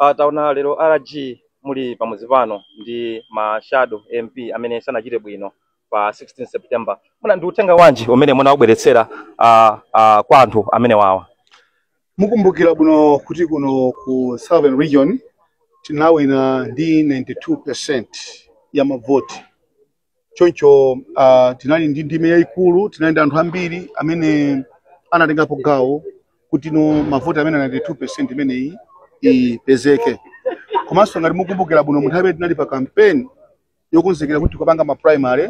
Uh, taona lero rg muli pamudzi pano ndi ma shadow mp amene sanachite bwino pa 16 september muna ndi uthenga wanji umene munawubweretsera uh, uh, kwa anthu amene wawa mukumbukira bwino kuti kuno ku southern region tinawina ndi 92 percent ya mavoti choncho uh, tinali ndi ndime yayikulu tinali ndi anthu ambiri amene anatengapo gawo kuti no mavoti amene 92 percent imeneyi ipezeke komanso ngati mukumbukira bwino munthawi imene tinali pa kampeni yokonzekera kuti tikupanga ma primary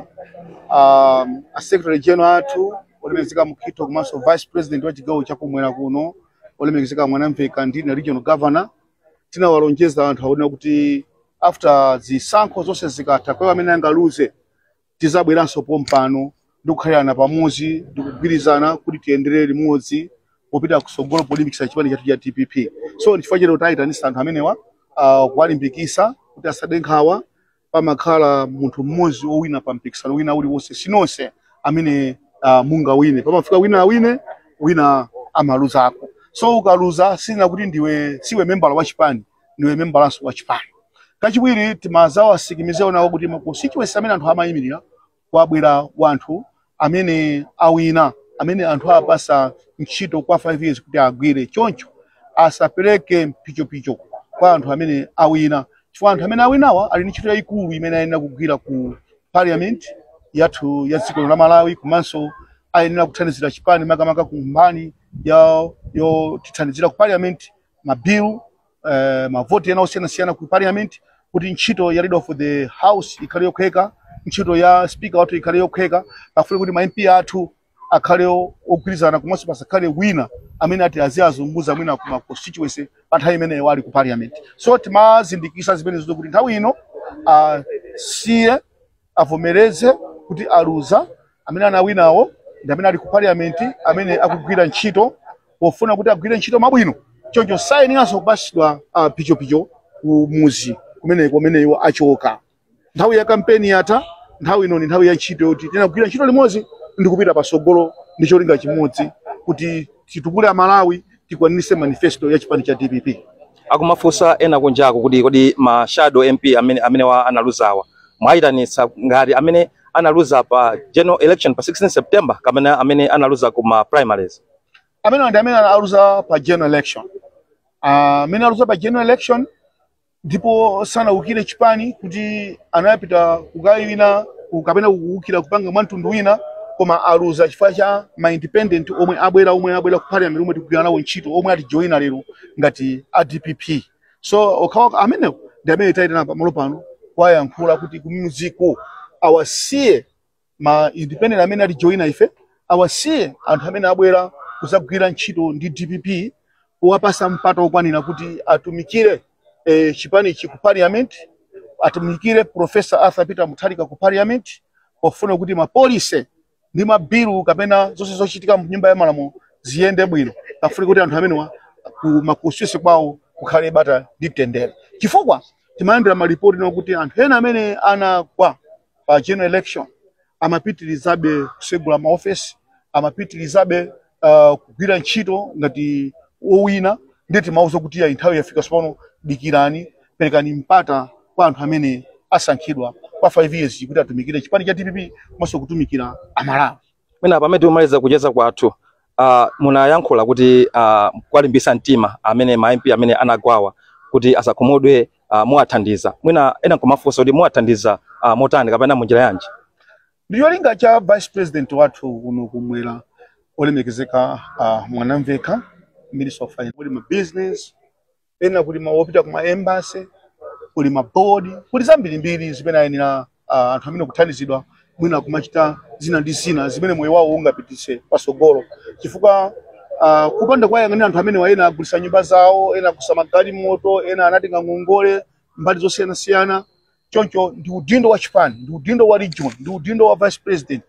um, a secretary general athu olemekezeka mkhitho komanso vice president wa chigawo chakumwera kuno olemekezeka mwanamvekha ndine regional governor tinawalonjeza anthu aona kuti after zisankho zonse zikatha kwa amene angaluze tizabweranso pompano ndikukhalirana pamodzi ndikugwirizana kuti tiyendere limodzi popita kusogolo polimbikisa chipani chathu cha dpp so ndichifukwa cha lero tayitanisa anthu amenewa uh, kuwalimbikisa kuti asade nkhawa pamakhala munthu mmodzi owina pa mpikisano wina uliwonse sinonse amene uh, mungawine pamafunika wina awine wina amaluzako so ukaluza sinena kuti ndiwe siwe membala wa chipani ndiwe membalanso wa chipani kachiwiri timazawasikimiziranawo kuti ma constituency amene anthu amayimirira kwabwera wanthu amene awina amene anthu awapasa ntchito kwa 5 years kuti agwire choncho asapereke mpichopicho kwa anthu amene awina chifukwa anthu amene awinawa ali ndi ntchito yayikulu imene ayenera kugwira ku parliament yathu ya dziko la malawi komanso ayenera kuthandizira chipani makamaka ku mbali yotithandizira ku parliament mabilu eh, mavoti ena osiyanasiyana ku parliament kuti ntchito ya leader of the house ikhale yophweka ntchito ya speaker wathu ikhale yophweka pafunika kuti ma MP athu akhale o- ogwirizana komanso pasakhale wina amene ati aziwazunguza mwina ku ma constituency pa nthawi imene iwo ali ku parliament so timazindikisa zimenezo kuti nthawi ino asiye avomereze kuti aluza, amene anawinawo ndi amene ali ku parliament, amene akugwira ntchito pofuna kuti agwire ntchito mwa bwino, choncho sayeneranso kupatsidwa ah, pichopicho ku muzi kumeneko kumene iwo achoka. Nthawi ya kampeni yatha, nthawi ino ndi nthawi ya ntchito yoti tina kugwira ntchito limodzi ndi kupita patsogolo ndi cholinga chimodzi kuti titukule Amalawi, tikwaniritse manifesto ya chipani cha DPP. akumafunsa ena kunjako kuti kodi ma shadow mp amenewa analuzawa mwayitanitsa ngati amene analuza pa general election pa 16 september kapena amene analuza ku ma primaries amene ndi amene aluza pa general election Ah, amene aluza pa general election ndipo sanaukire chipani kuti anapita kukayima ku- kapena kuukira kupanga mwa mtundu wina koma aluza chifukwa cha ma independent omwe abwera omwe abwera ku parliament omwe tikugwira nawo ntchito omwe atijoyina lero ngati a dpp so okhawa amene ndi amene tayitana pamalo pano kuwayankhula kuti kumuziko awasiye ma independent amene atijoina ife awasiye anthu amene abwera kuzagwira ntchito ndi dpp kuwapasa mpata okwanira kuti atumikire eh, chipanichi ku parliament atumikire profesa arthur peter mutharika ku parliament pofuna kuti mapolise ndi mabilu kapena zonse zochitika mnyumba ya malamulo ziyende bwino pofuna kuti anthu amenewa ku makonstituency kwawo kukhale bata ndi mtendere chifukwa timayendera malipoti ena kuti anthu ena amene anagwa pa general election amapitirizabe kusegula maofesi amapitirizabe uh, kugwira ntchito ngati owina ndiye timawauza kuti ayi nthawi yafika sopano dikirani perekani mpata kwa anthu amene asankhidwa kwa 5 years kuti atumikire chipani cha dpp komanso kutumikira amalawi mwina pamene tikumaliza kucheza kwathu uh, munayankhula kuti uh, kuwalimbitsa mtima amene ma MP amene anagwawa kuti asakhumudwe uh, muwathandiza mwina ena nkumafunsa kuti muwathandiza uh, motani kapena munjira yanji Ndicholinga cha Vice President wathu kuno kumwera olemekezeka a Mwanamvekha, Minister of Finance, kuli ma business ena, kuli ma opita kuma embassy, kuli ma board, kuli zambirimbiri zimene ayenera ah, anthu amene kuthandizidwa mwina kumachita zina ndi zina zimene moyo wawo ungapititse pasogolo chifukwa ah, kupanda kuwayang'anira anthu amenewa ena agulisa nyumba zawo, ena agulisa magalimoto, ena anatenga ngongole mbali zosiyanasiyana choncho ndi udindo wa chipani ndi udindo wa region ndi udindo wa vice president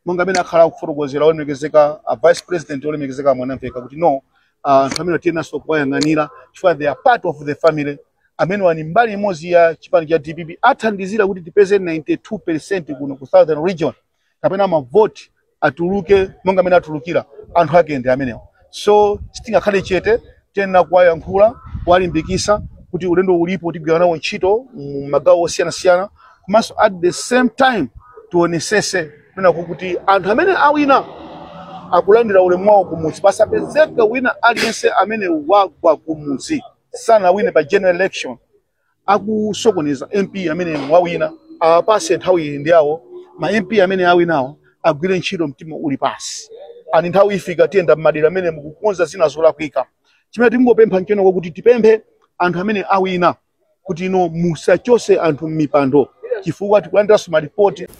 monga amene akhala akufotokozera olemekezeka a vice president olemekezeka mwanamveka kuti no ah, anthu amene tiyenaso kuwayang'anira chifukwa they are part of the family amenewa ndi mbali imodzi ya chipani cha dpp athandizira kuti tipeze 92 percent kuno ku southern region kapena mavoti atuluke monga amene atulukira anthu ake ndi amenewo so sitingakhale chete tiyenera kuwayankhula kuwalimbikisa kuti ulendo ulipo tigwira nawo ntchito mu magawo osiyanasiyana komanso at the same time tionesese kunenako kuti anthu amene awina akulandira ulemu wawo kumudzi pasapezeke wina aliyense amene wagwa kumudzi sanawine pa general election akusokoneza mp amene wawina awapase nthawi iyi ndi yawo ma mp amene awinawo agwire ntchito mtima uli pasi ani nthawi ifika tiyenda mmadera amene mukukonza zina zolakwika chimene tingopempha nchonena kuti tipemphe anthu amene awina kuti inu musachose anthu mmipando chifukwa tikulandiranso malipoti